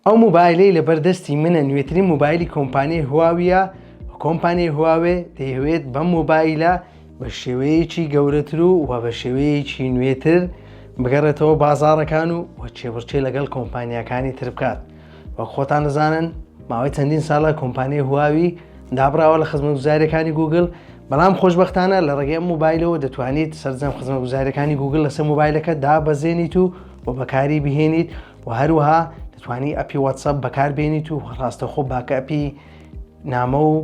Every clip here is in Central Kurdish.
ئەو موبایلەی لەبەر دەستی منە نوێترین موبایلی کۆمپانیای هواویە کۆمپانیای هواوێ دەیەوێت بە موبایلە بە شێوەیەکی گەورەتر و و بە شێوەیەکی نوێتر بگەڕێتەوە بازارەکان و و چێبڕچێ لەگەڵ کۆمپانیاکانی تر بکات وەک خۆتان دەزانن ماوەی چەندین ساڵە کۆمپانیای هواوی دابراوە لە خزمە گوزارەکانی گوگل بەڵام خۆشببختانە لە ڕێگەی موبایلەوە دەتوانیت سەررجەم خزمە گوزارەکانی گوگل لەسەر موبایلەکە دابەزێنیت و و بەکاری بهێنیت و هەروەها دەتوانی ئەپی واتسەپ بەکاربێنیت و ڕاستەخۆ باکە ئەپی نامە و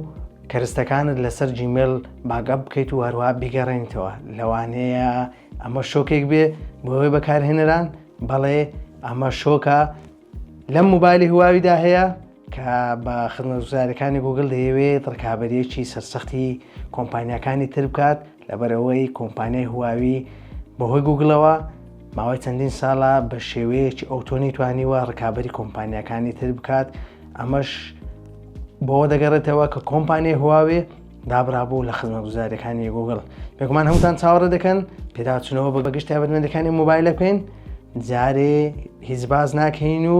کەرستەکانت لەسەر جیمێل باگە بکەیت و هەروە بیگەڕێنیتەوە لەوانەیە ئەمە شۆکێک بێ بۆی بەکارهێنەران بەڵێ ئەمە شۆکە لەم موبایلی هواویدا هەیە کە بە خزمەتگوزاریەکانی گوگل دەیەوێت ڕکابەریەکی سەرسەختی کۆمپانیاکانی تر بکات لەبەرەوەی کۆمپانیای هواوی بەهۆی گوگلەوە ماوەی چەندین ساڵە بە شێوەیەکی ئەوتۆنی توانیوە ڕکابەری کۆمپانیەکانی تر بکات ئەمەش بۆ دەگەڕێتەوە کە کۆمپانیای هواوێ دابرابوو لە خزمەتگوزاریەکانی گوگل بێگومان هەمووتان چاوەڕێ دەکەن پێداچنەوە بە بەگشت تابەتمەندەکانی موبایلەکەین جارێ هیچ باز ناکەین و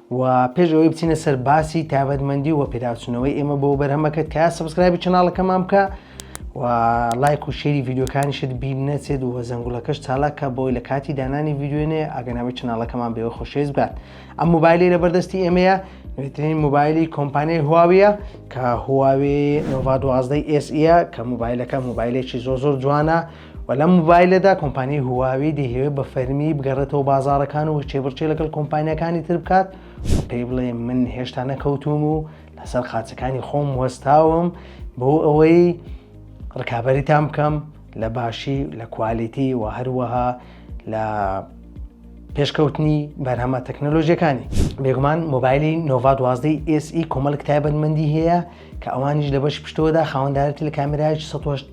و پێش ئەوەی بچینە سەر باسی تایبەتمەندی و پێداچوونەوەی ئێمە بۆ بەرهەمەکەت کە سبسکرایبی چناڵەکەمان بکە و لایک و شێری ڤیددیوکانیشت بیر نەچێت و زەنگولەکەش چالاکە بۆی لە کاتی دانانی ڤیددیوێنێ ئەگەناوی چناڵەکەمان بێوە خۆشێز بات ئەم موبایلی لە بەردەستی ئێمەیە نوێترین موبایلی کۆمپانیای هواویە کە هواوێ نۆڤ دوازدەی ئێسە کە موبایلەکە موبایلێکی زۆ زۆر جوانە و لەم موبایلەدا کۆمپانیای هواوی دەیهەوێت بە فەرمی بگەڕێتەوە بازارەکان و چێبڕچێ لەگەڵ کۆمپانیەکانی تر بکات و پێی بڵێ من هێشتا نەکەوتوم و لەسەر قاچەکانی خۆم وەستاوم بۆ ئەوەی ڕکابەریتان بکەم لە باشی لە کوالیتی و هەروەها لە پێشکەوتنی بەرهەمە تەکنەلۆژیەکانی بێگومان مۆبایلی نۆڤ دوازدەی ئسی e کۆمەڵک تایبەتمەندی هەیە کە ئەوانیش لە بەش پشتەوەدا خاوەندارەتی لە کامێراج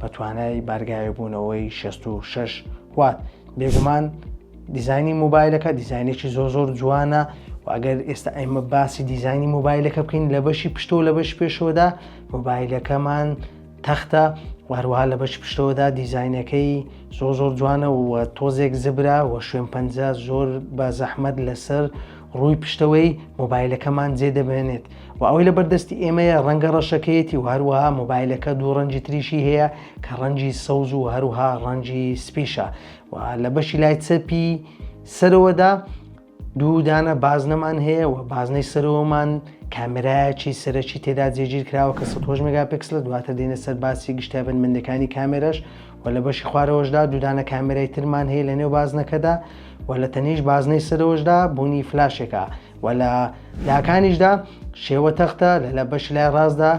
بە توانای بارگاوێبوونەوەی 66 وات بێگومان دیزانی موبایلەکە دیزانێکی زۆر زۆر جوانە و ئەگەر ئێستا ئەمە باسی دیزانی موبایلەکە بکەین لە بەشی پشتەوە لە بەش پێشەوەدا موبایلەکەمان تەختە وهروها لە بەش پشتەوەدا دیزینەکەی زۆر زۆر جوانە و تۆزێک زبرا و شوێن پەنج زۆر بە زەحمەت لەسەر ڕووی پشتەوەی مۆبایلەکەمان جێ دەبێنێت و ئەوەی لە بەردەستی ئێمەیە ڕەنگە ڕەشەکەیەتی و هەروەها مۆبایلەکە دوو ڕەنجی تریشی هەیە کە ڕەنجی سەوز و هەروها ڕەنجی سپیشە و لە بەشی لای چەپی سەرەوەدا دوودانە بازنەمان هەیە و بازنەی سەرەوەمان کامێرایەکی سەرەکی تێدا جێگیر کراوە کە 16 مگاپکس لە دواتر دێنە سەر باسی گشتای بنمەندەکانی کامێرەش و لە بەشی خوارەوەشدا دوودانە کامێرای ترمان هەیە لە نێو بازنەکەدا و لە تەنیش بازنەی سەرەوەشدا بوونی فلاشێکە وە لە لاکانیشدا شێوە تەختە لە لە بەش لای ڕاستدا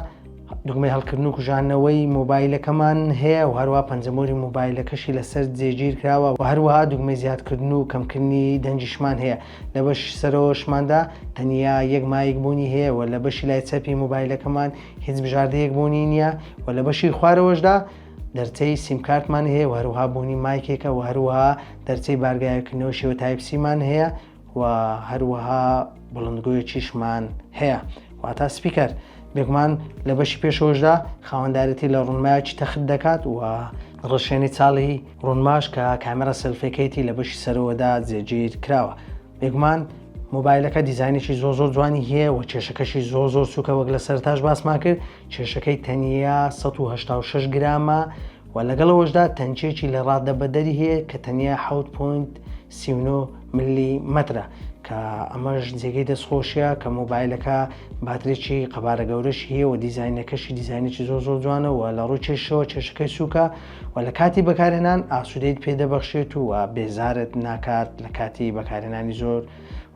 دگمەی هەڵکردن و کوژانەوەی مۆبایلەکەمان هەیە و هەروە پەنجەمۆری مۆبایلەکەشی لەسەر جێگیر کراوە و هەروەها دگمەی زیادکردن و کەمکردنی دەنجیشمان هەیە لە بەش سەرۆشماندا تەنیا یەک مایک بوونی هەیە و لە بەشی لای چەپی مۆبایلەکەمان هیچ بژاردەیەک بوونی نییە و لە بەشی خوارەوەشدا دەرچەی سیمکارتمان هەیە و هەروها بوونی مایکێکە و هەروها دەرچەی بارگایەکردنەوە شێوە تایپسیمان هەیە و هەروەها بڵندگۆیەکیشمان هەیە واتا سپیکەر بێگومان لە بەشی پێشەوەشدا خاوەندارەتی لە ڕوونمایکی تەخت دەکات و ڕشێنی چاڵی ڕوونماش کە کامێرا سلفەکەیتی لە بەشی سەرەوەدا جێگیر کراوە بێگومان مۆبایلەکە دیزانێکی زۆ زۆر جوانی هەیە و کێشەکەشی زۆ زۆر سوکە وەک لە سەرتاش باسمان کرد کێشەکەی تەنیا 1960 گرامە و لەگەڵ ئەوەشدا تەنکێکی لە ڕادە بەدەری هەیە کە تەنیا حوت پوینت سیونۆ ملی مەترە کە ئەمەش جێگەی دەستخۆشیە کە مۆبایلەکە باترێکی قەبارە گەورەش هەیە و دیزینەکەشی دیزینێکی زۆر زۆر جوانەوە لە ڕووی کێشەوە کێشەکەی سووکە و لە کاتی بەکارهێنان ئاسوودەیت پێدەبەخشێت و بێزارت ناکات لە کاتی بەکارهێنانی زۆر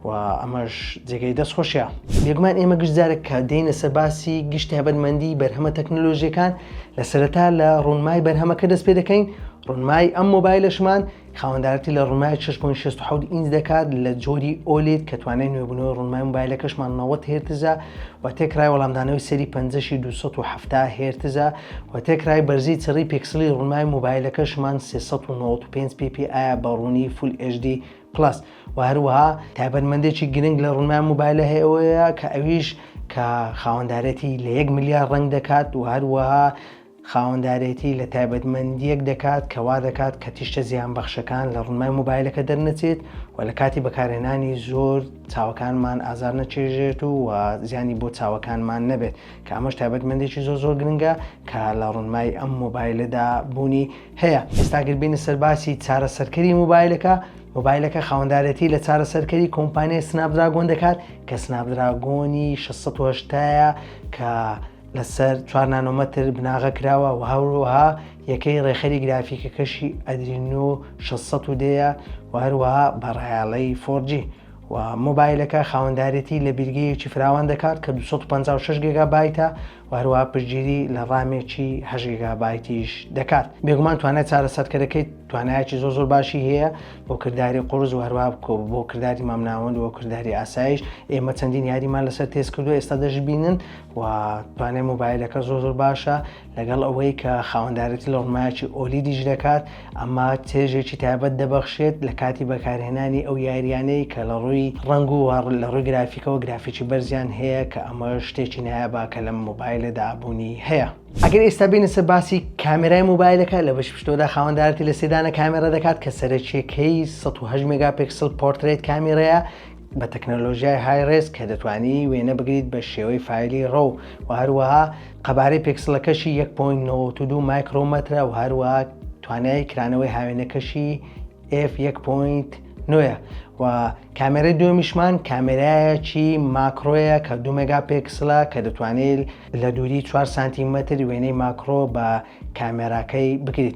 و ئەمەش جێگەی دەست خۆشە بێگومان ئێمە گشت جارێک کە دێنە سەر باسی گشت تایبەتمەندی بەرهەمە تەکنۆلۆژیەکان لە سەرەتا لە ڕوونمای بەرهەمەکە دەست پێ دەکەین ڕوونمای ئەم مۆبایلشمان خاوەندارەتی لە ڕوونمای 6.6 ئینج دەکات لە جۆری ئۆلید کە توانای نوێبوونەوەی ڕوونمای مۆبایلەکەشمان 90 هێرتزە و تێکرای وەڵامدانەوەی سەری 570 هێرتزە و تێکرای بەرزی چڕی پێکسلی ڕوونمای مۆبایلەکەشمان 395 پی پی ئایا بە ڕوونی فول HD پڵەس و هەروەها تایبەتمەندێکی گرنگ لە ڕوونمان موبایلە هەیەەوەیە کە ئەویش کە خاوەندارێتی لە یەک ملیار ڕنگ دەکات و هەروەها خاوەندارێتی لە تایبەتمەندیەک دەکات کەوا دەکات کە تیشتە زیان بەخشەکان لە ڕوونمای موبایلەکە دەرنەچێت و لە کاتی بەکارهێنانی زۆر چاوەکانمان ئازار نەچێژێت و و زیانی بۆ چاوەکانمان نەبێت کە ئەمەش تایبەتمەندێکی زۆر زۆر گرنگە کە لە ڕوونمای ئەم مۆبایلەدا بوونی هەیە ئێستا گەر بێینە سەر باسی چارەسەرکەری موبایلەکە موبایلەکە خاوەندارێتی لە چارەسەرکەری کۆمپانیای سناپدراگۆن دەکات کە سناپدراگۆنی 1680ە کە لەسەر چوار نانۆمەتر بناغە کراوە و هەروەها یەکەی ڕێخەری گرافیکەکەشی ئەدرینۆ 1600ەیە و هەروەها بەڕایاڵەی فۆرجی و مۆبایلەکە خاوەندارێتی لە بیرگەیەکی فراوان دەکات کە 256 گێگا بایتە و هەروەها پشتگیری لە ڕامێکی هەشت گیگابایتیش دەکات بێگومان توانای چارەسەرکەرەکەی توانایەکی زۆر زۆر باشی هەیە بۆ کردداری قرس و هەروە بۆ کردداری مامناوەند و کردداری ئاسایش ئێمە چەندین یاریمان لەسەر تێست کردو ئێستا دەشببینن و توانای موبایلەکە زۆر زۆر باشە لەگەڵ ئەوەی کە خاوەندارێتی لە ڕمایکی ئۆلیدیش دەکات ئەمە چێژێکی تایبەت دەبەخشێت لە کاتی بەکارهێنانی ئەو یاریانەی کە لە ڕووی ڕەنگ و لە ڕووی گرافیکەوە گرافیکی بەرزیان هەیە کە ئەمە شتێکی نایابە کە لەم مۆبایلەدا بوونی هەیە. ئەگەر ئێستا بێینە سەر باسی کامێرای مۆبایلەکە لە بەشی پشتەوەدا خاوەندارەتی لە سێ دانە کامێرا دەکات کە سەرەکیەکەی سەد و هەشت مێگا پێکسڵ پۆرترەیت کامێرەیە بە تەکنەلۆژیای های ڕێز کە دەتوانی وێنە بگریت بە شێوەی فایلی ڕۆ و هەروەها قەبارەی پێکسڵەکەشی یەک پۆینت نەوەت و دوو مایکرۆمەترە و هەروەها توانای کرانەوەی هاوێنەکەشی ئێف یەک پۆینت نوێە و کامێرەی دوێمیشمان کامێرایەکی ماکرۆیە کە دو مێگا پێکسلە کە دەتوانێت لە دووری 4 سانتیمەتر وێنەی ماکرۆ بە کامێراکەی بکریت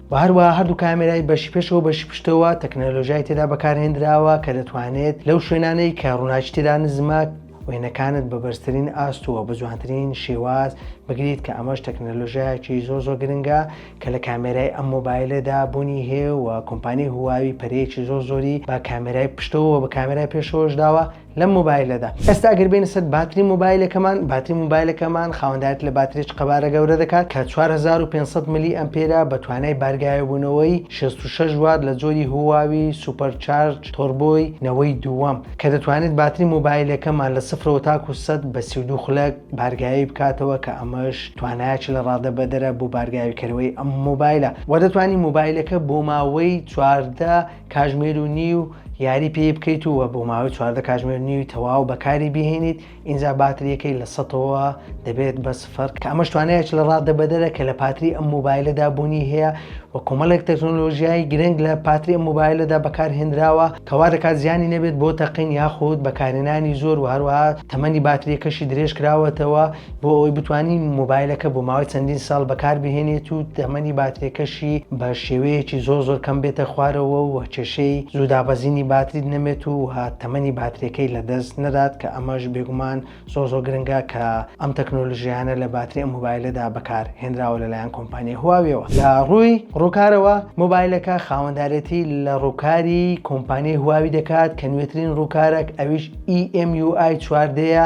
و هەروەها هەردوو کامێرای بەشی پێشەوە و بەشی پشتەوە تەکنەلۆژیای تێدا بەکارهێنراوە کە دەتوانێت لەو شوێنانەی کە ڕووناکی تێدا نزمە وێنەکانت بە بەرزترین ئاستووە بە جوانترین شێواز بگریت کە ئەمەش تەکنەلۆژیایەکی زۆر زۆر گرنگە کە لە کامێرای ئەم مۆبایلەدا بوونی هەیە و کۆمپانی هواوی پەرەیەکی زۆر زۆری بە کامێرای پشتەوە بە کامێرای پێشەوەش داوە لەم مۆبایلەدا ئێستا ئەگەر بینە سەر باتری مۆبایلەکەمان باتری مۆبایلەکەمان خاوەندایەت لە باتریچ قەبارە گەورە دەکات کە 4500 ملی ئەمپێرە بە توانای بارگایەبوونەوەی 66 وات لە جۆری هواوی سوپەرچارج تۆربۆی نەوەی دووەم کە دەتوانێت باتری مۆبایلەکەمان لە سفرەوە تاکو سەد بە 32 خولەک بارگایی بکاتەوە کە ئەمەش توانایەکی لە ڕادە بەدەرە بۆ بارگاویکەرەوەی ئەم مۆبایلە وە دەتوانانی مۆبایلەکە بۆ ماوەی چواردە کاژمێر و نیو یاری پێی بکەیت و بۆ ماوەی چواردە کاژمێر نیوی تەواو بەکاری بهێنیت ئینجا باتریەکەی لە سەتەوە دەبێت بە سفر کە ئەمەش توانایەکی لە ڕاددە بەدەرە کە لە پاتری ئەم مۆبایلەدا بوونی هەیە و کۆمەڵێک تەکنۆلۆژیای گرنگ لە پاتری ئەم مۆبایلەدا بەکارهێنراوە کەوا دەکات زیانی نەبێت بۆ تەقین یاخود بەکارهێنانی زۆر و هەروەها تەمەنی باتریەکەشی درێژ کراوەتەوە بۆ ئەوەی بتانی مۆبایلەکە بۆ ماوەی چەندین ساڵ بەکاربهێنێت و تەمەنی باترێکەشی بە شێوەیەکی زۆر زۆر کەم بێتە خوارەوە و کێشەی زوودابەزینی باتریت نەمێت و تەمەنی باترێکەی لە دەست نەدات کە ئەمەش بێگومان زۆر زۆر گرنگە کە ئەم تەکنۆلژیانە لە باتری ئەم مۆبایلەدا بەکار هێنراوە لەلایەن کۆمپانیای هواویەوە لە ڕووی ڕووکارەوە مۆبایلەکە خاوەندارێتی لە ڕووکاری کۆمپانیای هواوی دەکات کە نوێترین ڕووکارێک ئەویش EMUI چواردەیە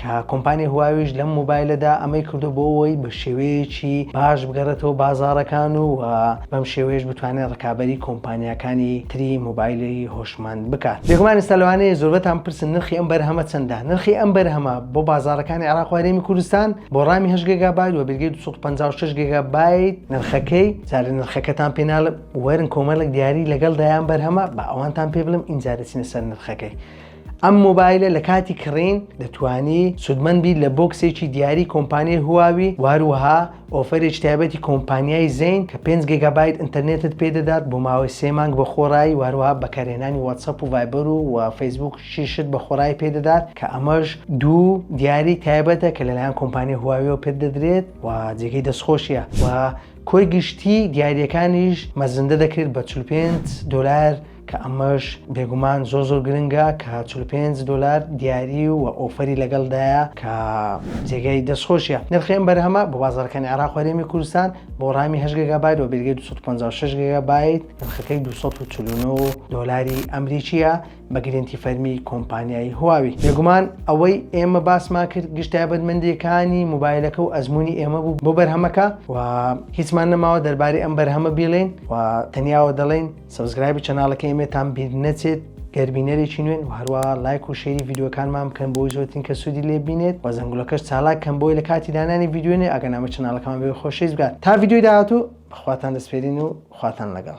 کە کۆمپانیای هواویش لەم مۆبایلەدا ئەمەی کردو بۆ ئەوەی بە شێوەیەکی باش بگەڕێتەوە بازاڕەکان و بەم شێوەیەش بتوانێت ڕکابەری کۆمپانیاکانی تری مۆبایلی هۆشمەند بکات بێگومان ئێستا لەوانەیە زۆربەتان بپرسن نرخی ئەم بەرهەمە چەندە نرخی ئەم بەرهەمە بۆ بازاڕەکانی عێراق و هەرێمی کوردستان بۆ ڕامی هەشت گێگابایت وە بێلگەی دوو سەد و پەنجا و شەش گێگابایت نرخەکەی جارێ نرخەکەتان پێ ناڵێم وەرن کۆمەڵێک دیاری لەگەڵ دایان بەرهەمە با ئەوانتان پێ بڵێم ئینجا دەچینە سەر نرخەکەی ئەم مۆبایلە لە کاتی کڕین دەتوانی سودمەند بیت لە بۆکسێکی دیاری کۆمپانیای هواوی واروها ئۆفەرێکی تایبەتی کۆمپانیای زین کە 5 گێگابایت ئینتەرنێتت پێدەدات بۆ ماوەی سێ مانگ بە خۆڕایی واروها بەکارهێنانی واتسەپ و ڤایبەر و و فەیسبوک شیشت بە خۆڕایی پێدەدات کە ئەمەش دوو دیاری تایبەتە کە لەلایەن کۆمپانیای هواویەوە پێت دەدرێت و جێگەی دەستخۆشیە و کۆی گشتی دیاریەکانیش مەزندە دەکرێت بە 45 دلار کە ئەمەش بێگومان زۆر زۆر گرنگە کە چل و پێنج دۆلار دیاری و ئۆفەری لەگەڵدایە کە جێگای دەستخۆشیە نرخی ئەم بەرهەمە بۆ بازارەکانی عێراق و هەرێمی کوردستان بۆ ڕامی هەشت گێگابایت و بێگەی 256 گێگابایت نرخەکەی 249 دۆلاری ئەمریکیە بە گرنتی فەرمی کۆمپانیای هواوی بێگومان ئەوەی ئێمە باسمان کرد گشت تایبەتمەندیەکانی موبایلەکە و ئەزمموی ئێمە بوو بۆ بەرهەمەکە و هیچمان نەماوە دەربارەی ئەم بەرهەمە بیڵێن و تەنیاوە دەڵێن سەبسکرایبی چەناڵەکە ئێمەتان بیر نەچێت گەر بینەرێکی نوێن و هەروە لایک و شێری یددیوەکانمان بکەن بۆی زۆرترین کە سوودی لێ بینێت و زەنگولەکەش چالاک کەم بۆی لە کاتی دانانی یددیوێنێ ئەگەر نامە چەناڵەکەمان بێ خۆشەویست بکات تا یددیوی داهاتوو بەخواتان دەسپێرین و خواتان لەگەڵ